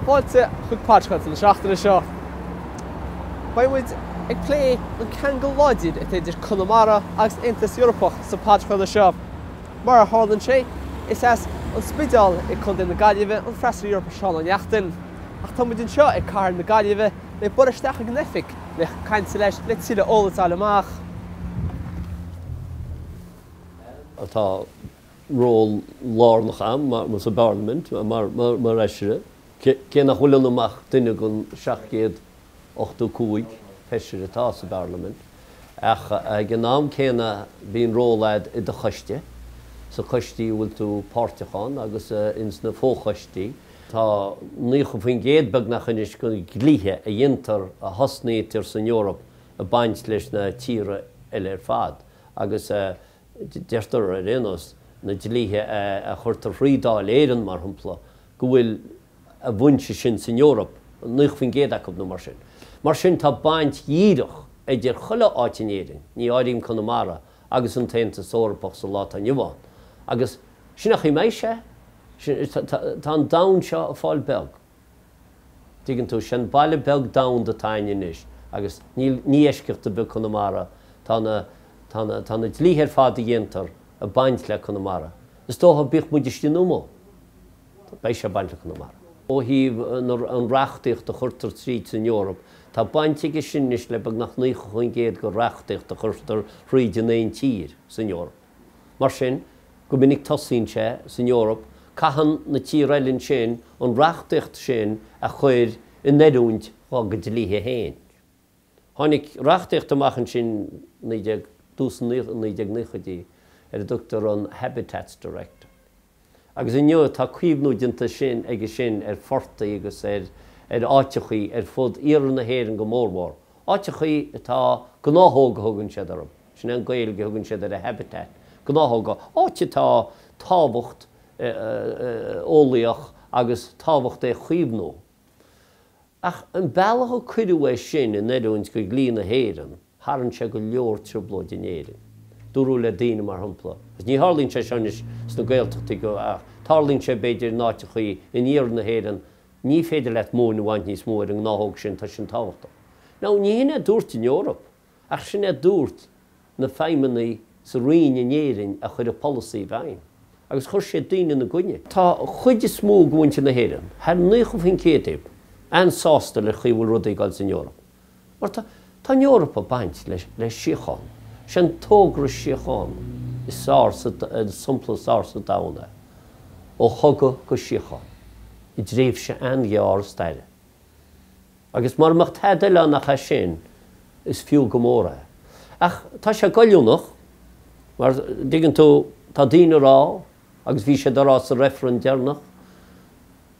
Fáilte chuig podcast na seachtaine seo. Beidh muid ag plé an ceangal láidir atá idir Conamara agus an tAontas Eorpach sa podchraoladh seo. Mar a tharlaíonn sé, is as An Spideál i Co. na Gaillimhe an feisire Eorpach Seán Ó Neachtain. Ach tá muid anseo i cathair na Gaillimhe le bualadh isteach chuig an oifig. le caint leis le tuilleadh eolais a fháil amach. atá ról lárnach ann sa bparlaimint mar fheisire, cé nach bhfuil ionam ach duine den 785 feisire atá sa bparlaimint, ach ag an am céanna bíonn ról agat i do choiste, sa choistí a bhfuil tú páirteach ann agus ins na fochoistí. Tá 90% beagnach anois de na dlíthe a dhéantar, a thosnaítear san Eoraip ag baint leis na tíortha eile ar fad agus deirtear ar aon nós, na dlíthe a chuirtear thrí Dháil Éireann mar shompla, go bhfuil a bhfoinse sin san Eoraip, 90% acu nó mar sin. Mar sin tá baint dhíreach idir chuile áit in Éirinn, ní áirím Conamara, agus an tAontas Eorpach sa lá atá inniu ann. Agus sin an chaoi a mbeidh sé. Tá an domhan seo ag fáil beag. An dtuigeann tú? Sé'n baile beag domhanda atá againne anois agus níl, ní eisceacht ar bith Conamara, tá na, tá na, tá na dlíthe ar fad a dhéantar ag baint le Conamara, is dócha bíodh muid istigh nó amuigh. Beidh sé bainteach le Conamara. Ó thaobh an reachtaíocht a chuirtear tríd san Eoraip, tá baint aige sin anois le beagnach 90% de reachtaíocht a chuirtear thríd in aon tír san Eoraip. Mar sin, go minic tosaíonn sé san Eoraip, caitheann na tíortha eile ansin an reachtaíocht sin a chuir in oiriúint dhá gcuid dlíthe féin. Tháinig reachtaíocht amach ansin 19, dtús na 1990idí, ar a dtugtar an Habitats Directive. Agus inniu tá caomhnú déanta aige sin ar phortaigh agus ar áiteachaí ar fud iarthar na hÉireann go mórmhór, áiteachaí atá gnáthóg a thugann siad orthu, sin é an Ghaeilge a thugann siad ar a habitat, gnáthóga, áit atá tábhacht eolaíoch agus tábhacht é chaomhnú. Ach an bealach a cuireadh é sin in oiriúint go dhlí na hÉireann, tharraing sé go leor trioblóid in Éirinn. Dúradh le daoine, mar shampla, agus ní tharlaíonn sé seo anois sna Gaeltachtaí go, ach tarlaíonn sé b'fhéidir in áiteachaí in iarthar na hÉireann, ní féidir leat móin a bhaint níos mó ar an ngnáthóg sin, tá sin tábhachtach. Now, ní hin é a dúirt an Eoraip. Ach sin a dúirt na feidhmeannaigh sa roinn in Éirinn a chuir an polasaí i bhfeidhm, agus chuir siad daoine ina gcoinne. Tá an chuid is mó de mhuintir na hÉireann, thar 90% acub, an-sásta le chaoi a bhfuil rudaí ag dul san Eoraip. Mar tá, tá an Eoraip ag baint le síocháin. Is é an togra síochána is fearr sa, an sampla is fearr sa domhan é, ó chogadh go síocháin, i dtréimhse an-ghearr staire. Agus mura mbeadh tada eile ann ach sin, is fiú go mór é. Ach tá sé goilliúnach, mar, dtuigeann tú, tá daoine ag rá, agus bhí siad ag rá sa reifreann deireanach,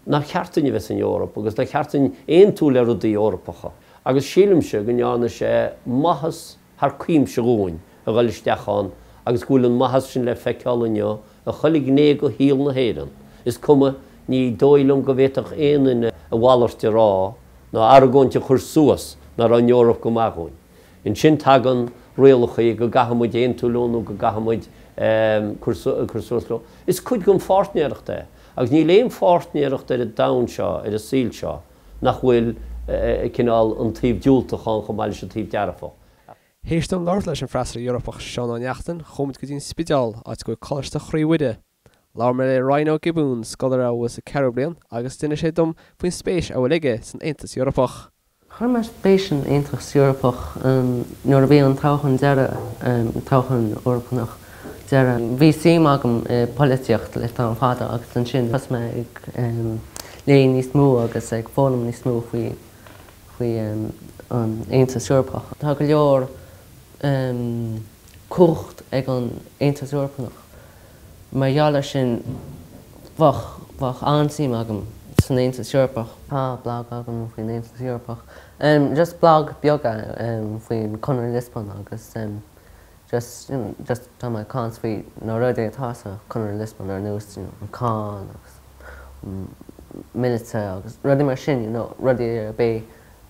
nár cheart duinn a bheith san Eoraip agus nár cheart duinn aontú le rudaí Eorpacha. Agus sílimse go ndearna sé maitheas thar cuimse dhúinn a dhul isteach ann agus go bhfuil an maitheas sin le feiceál inniu i chuile ghné go shaol na hÉireann, is cuma, ní dóigh liom go bhféadfadh aon duine a mhalairt a rá ná argóint a chur suas ná raibh an Eoraip go maith dhúinn. Ansin tagann rialachaí go gcaithfidh muid aontú leo nó go gcaithfidh muid cur suas leo. Is cuid den pháirtnéireacht é. Agus níl aon pháirtnéireacht ar an domhan seo, ar an saol seo, nach bhfuil cineál an taobh diúltach ann chomh maith leis an taobh dearfach. Théis dom labhairt leis an bhFeisire Eorpach Seán Ó Neachtain, chuamid go dtí an Spideál, áit a bhfuil Coláiste Chroí Mhuire. Labhair mé le Ryan Ó Giobúin, scoláire a bhfuil sa ceathrú bliain, agus d'inis sé dom faoin spéis a bhfuil aige san Aontas Eorpach. Chuir mé spéis san Aontas Eorpach nuair a bhí an toghchán deireadh, toghchán Eorpanach deireadh. Bhí suim agam i polaitíocht le tamall fada agus ansin thosaigh mé ag. léamh níos mó agus ag foghlaim níos mó faoi an Aontas Eorpach. Tá go leor cumhacht ag an Aontas Eorpach. Mar gheall ar sin, bheadh an-suim agam san Aontas Eorpach. Tá blag agam faoin Aontas Eorpach, just blag beag faoin Conradh Liospóin agus just, you know, just tá mé ag caint faoi na rudaí atá sa Chonradh Liospóin ar nós, you know, an cáin agus míleata agus rudaí mar sin, you know, rudaí a beidh,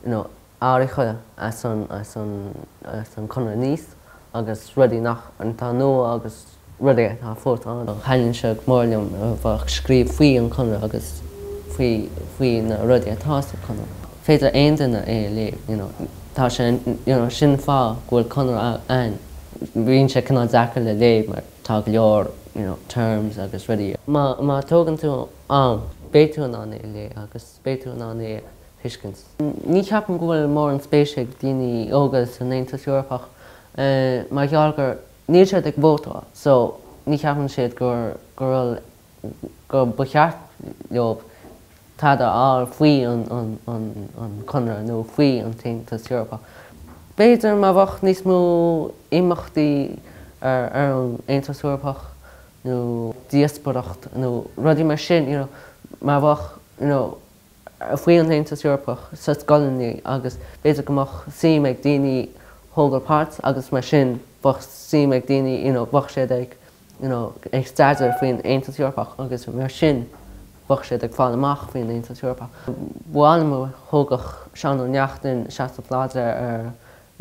you know, athraithe as an, as an, as an Chonradh Nice agus rudaí nach, atá nua agus rudaí atá fós ann. Thaitníonn sé go mór liom a bheith ag scríobh faoi an Chonradh agus faoi, faoi na rudaí atá sa Chonradh. féidir aon duine é a léamh, you know. Tá sé, you know, sin an fáth go bhfuil Conradh ann. Bíonn sé cineál deacair le léamh mar tá go leor, you know, terms agus rudaí. Má tógann tú am, beidh tú in ann é a léamh agus beidh tú in ann é a thuiscint. Ní cheapaim go bhfuil mórán spéise ag daoine óga san Aontas Eorpach mar gheall gur, níl siad ag vótáil, so ní cheapann siad gur, gur rud go mba cheart leob cead a fháil faoi an Conradh nó faoi an tAontas Eorpach. B'fhéidir má bheadh níos mó imeachtaí ar an Aontas Eorpach nó díospoireacht nó rudaí mar sin, you know, má bheadh, you know, faoi an Aontas Eorpach sa scoileanna agus b'fhéidir go mbeadh suim ag daoine thógáil páirt agus mar sin bheadh suim ag daoine, you know, bheadh siad ag. you know, ag staidéar faoin Aontas Eorpach agus mar sin bheadh siad ag fáil amach faoin Aontas Eorpach. Bhuel um thógfadh Seán Ó Neachtain seasamh láidir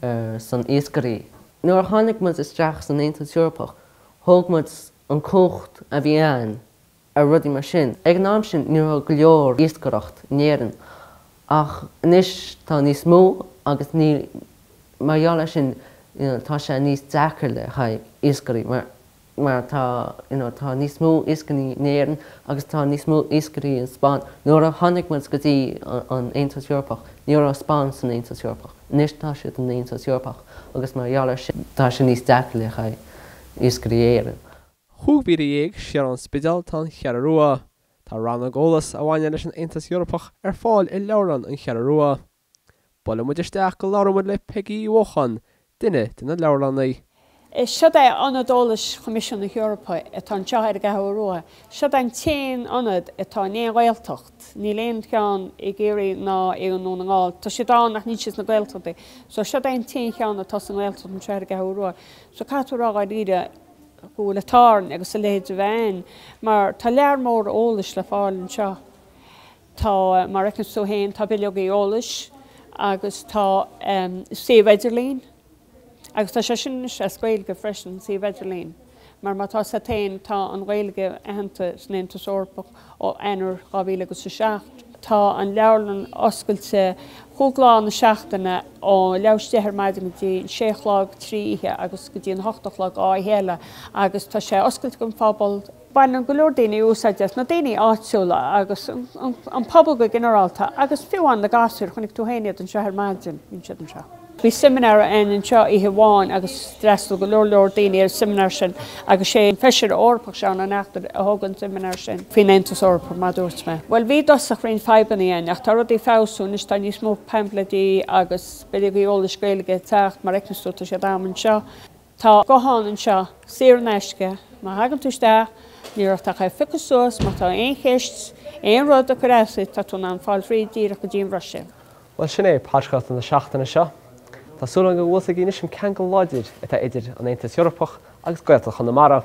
ar son iascairí. Nuair a tháinig muid isteach san Aontas Eorpach thóg muid an chumhacht a bhí ann. ar rudaí mar sin. Ag an am sin ní raibh go leor iascaireacht in Éirinn ach anois tá níos mó agus níl, mar gheall ar sin you know tá sé níos deacair le haghaidh iascairí mar mar tá you know tá níos mó iascairí in Éirinn agus tá níos mó iascairí in Spáinn. Nuair a tháinig muid go dtí an Aontas Eorpach ní raibh Spáinn san Aontas Eorpach. Anois tá siad in Aontas Eorpach agus mar gheall ar sin tá sé níos deacair le haghaidh iascairí Éirinn. Chúig mhíle dhéag siar ón Spidéal tá an Cheathrú Rua. Tá rannóg eolais a bhaineann leis an Aontas Eorpach ar fáil i Leabharlann an Cheathrú Rua. Buailfidh muid isteach go labhróidh muid le Peigí Uí Uacháin, duine de na leabharlannaí. Siod é Ionad Eolais Choimisiún na hEorpa atá anseo ar an gCeathrú Rua. Siod an t-aon ionad atá in aon Ghaeltacht. Níl aon cheann i gCiarraí ná i nDún na nGall. Tá siad ann ach níl siad sna Gaeltachtaí. So siod é an t-aon cheann atá sa nGaeltacht anseo ar an gCeathrú Rua. So caithfidh tú rá dháiríre. go bhfuil an t-ádh orainn agus a leithéid a bheith ann mar tá lear mór eolais le fáil anseo. Tá, mar a fheiceanns tú féin, tá bileogaí eolais agus tá suíomh idirlín agus tá sé sin anois as Gaeilge freisin, an suíomh idirlín, mar mar atá a fhios a'd féin, tá an Ghaeilge aitheanta san Aontas Eorpach. Ó Eanáir 2007 tá an leabharlann oscailte chúig lá na seachtaine, ó leath th'éis a deich ar maidin go dtí an sé a chlog trí oíche agus go dtí an hocht a chlog dhá oíche eile, agus tá sé oscailte don phobal. Baineann go leor daoine úsáid as, na daoine áitiúla agus an pobal go ginearálta, agus fiú amháin na gasúir, chonaic tú féin iad anseo ar maidin, bíonn siad anseo. Bhí seimineár ann anseo oíche amháin agus d'fhreastal go leor leor daoine ar an seimineár sin agus sé an Feisire Eorpach, Seán Ó Neachtain, a thug an seimineár sin faoin Aontas Eorpach mar a dúirt mé. Bhuel, bhí i dtosach roinnt fadhbanna ann ach tá rudaí ag feabhsú anois, tá níos mó paimfleidí agus bileogaí eolais Gaeilge ag teacht, mar a fheiceanns tú, tá siad a'm anseo. Tá guthán anseo, saor in aisce. Má thagann tú isteach, níl ort ach é a phiocadh suas, má tá aon cheist, aon rud ag cur as duit, tá tú in ann fáil thríd díreach go dtí an Bhruiséil. Bhuel, sin é podchraoladh na seachtaine seo. Tá súil agam go bhfuil a fhios agaibh anois an ceangal láidir atá idir an Aontas Eorpach agus Gaeltacht Chonamara.